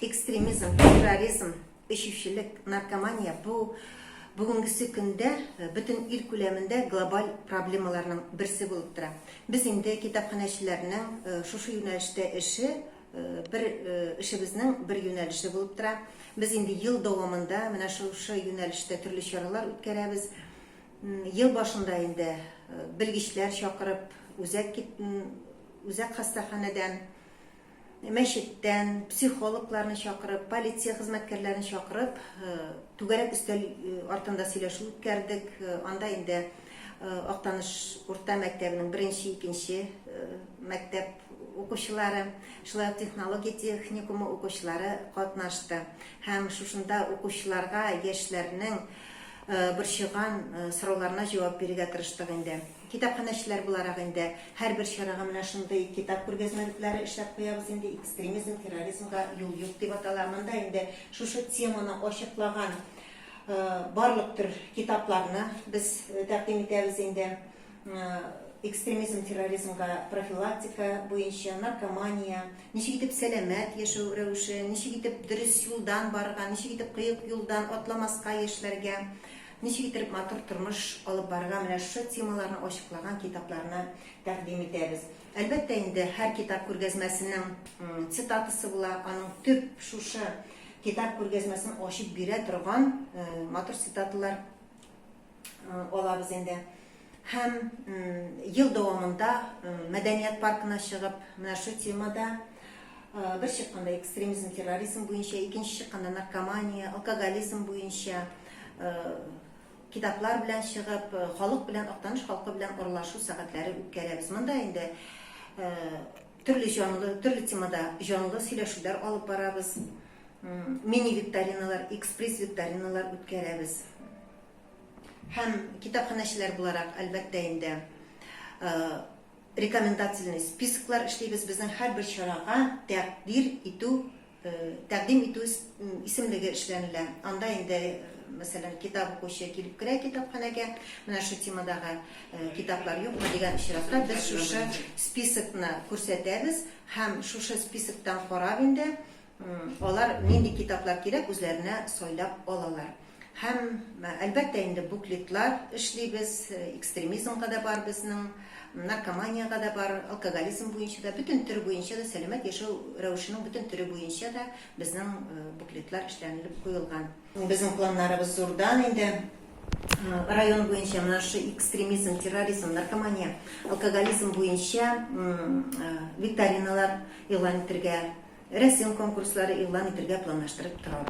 Экстремизм, терроризм, эчүчелек, наркомания бу бүгенгесе көндә э, бөтен ил күләмендә глобаль проблемаларның берсе булып тора. Без инде китапханәчеләрнең э, шушы юнәлештә эше э, бер эшебезнең бер юнәлеше булып тора. Без инде ел дәвамында менә шушы юнәлештә төрле чаралар үткәрәбез. Ел башында инде белгечләр чакырып, үзәк үзәк хастаханәдән мәчеттән, психологларны чакырып, полиция хезмәткәрләрен чакырып, түгәрәк өстәл артында сөйләшү үткәрдек. Анда инде Актаныш урта мәктәбенең беренче, икенче мәктәп укучылары, шулай ук технология техникумы укучылары катнашты. Һәм шушында укучыларга яшьләрнең борчыган сорауларына җавап бирергә тырыштык инде. Китапханәчеләр буларак инде һәрбер чарага менә шундый китап күргәзмәлекләре эшләп куябыз инде, экстремизм, терроризмга юл юк дип атала. Монда инде шушы теманы ачыклаган барлык төр китапларны без тәкъдим итәбез инде. Экстремизм, терроризмга профилактика буенча, наркомания, ничек итеп сәламәт яшәү рәвеше, ничек итеп дөрес юлдан барырга, ничек итеп кыек юлдан атламаска яшьләргә, Ничек итеп матур тормыш алып барырга, менә шушы темаларны ачыклаган китапларны тәкъдим итәбез. Әлбәттә инде, һәр китап күргәзмәсенең цитатасы була, аның төп шушы китап күргәзмәсен ачып бирә торган матур цитаталар алабыз инде. Һәм ел дәвамында мәдәният паркына чыгып, менә шу темада бер чыкканда экстремизм, терроризм буенча, икенче чыкканда наркомания, алкоголизм буенча китаплар белән чыгып, халык белән, Актаныш халкы белән аралашу сәгатьләре үткәрәбез. Монда инде төрле җанлы, төрле темада җанлы сөйләшүләр алып барабыз. Мини-викториналар, экспресс-викториналар үткәрәбез. Һәм китапханәчеләр буларак, әлбәттә инде, рекомендательный списоклар эшлибез, безнең һәрбер чарага тәкъдир итү, тәкъдим итү исемлеге эшләнелә. Анда инде, мәсәлән, китап укучы килеп керә китапханәгә, менә шул темадагы китаплар юкмы дигән очракта, без шушы списокны күрсәтәбез һәм шушы списоктан карап инде, Алар нинди китаплар кирәк, үзләренә сайлап алалар. Һәм, әлбәттә инде, буклетлар эшлибез, экстремизмга да бар безнең, наркоманиягә дә бар, алкоголизм буенча да, бөтен төр буенча да, сәламәт яшәү рәвешенең бөтен төре буенча да безнең буклетлар эшләнелеп куелган. Безнең планнарыбыз зурдан инде. Район буенча менә шушы экстремизм, терроризм, наркомания, алкоголизм буенча викториналар игълан итәргә, рәсем конкурслары игълан итәргә планлаштырып торабыз.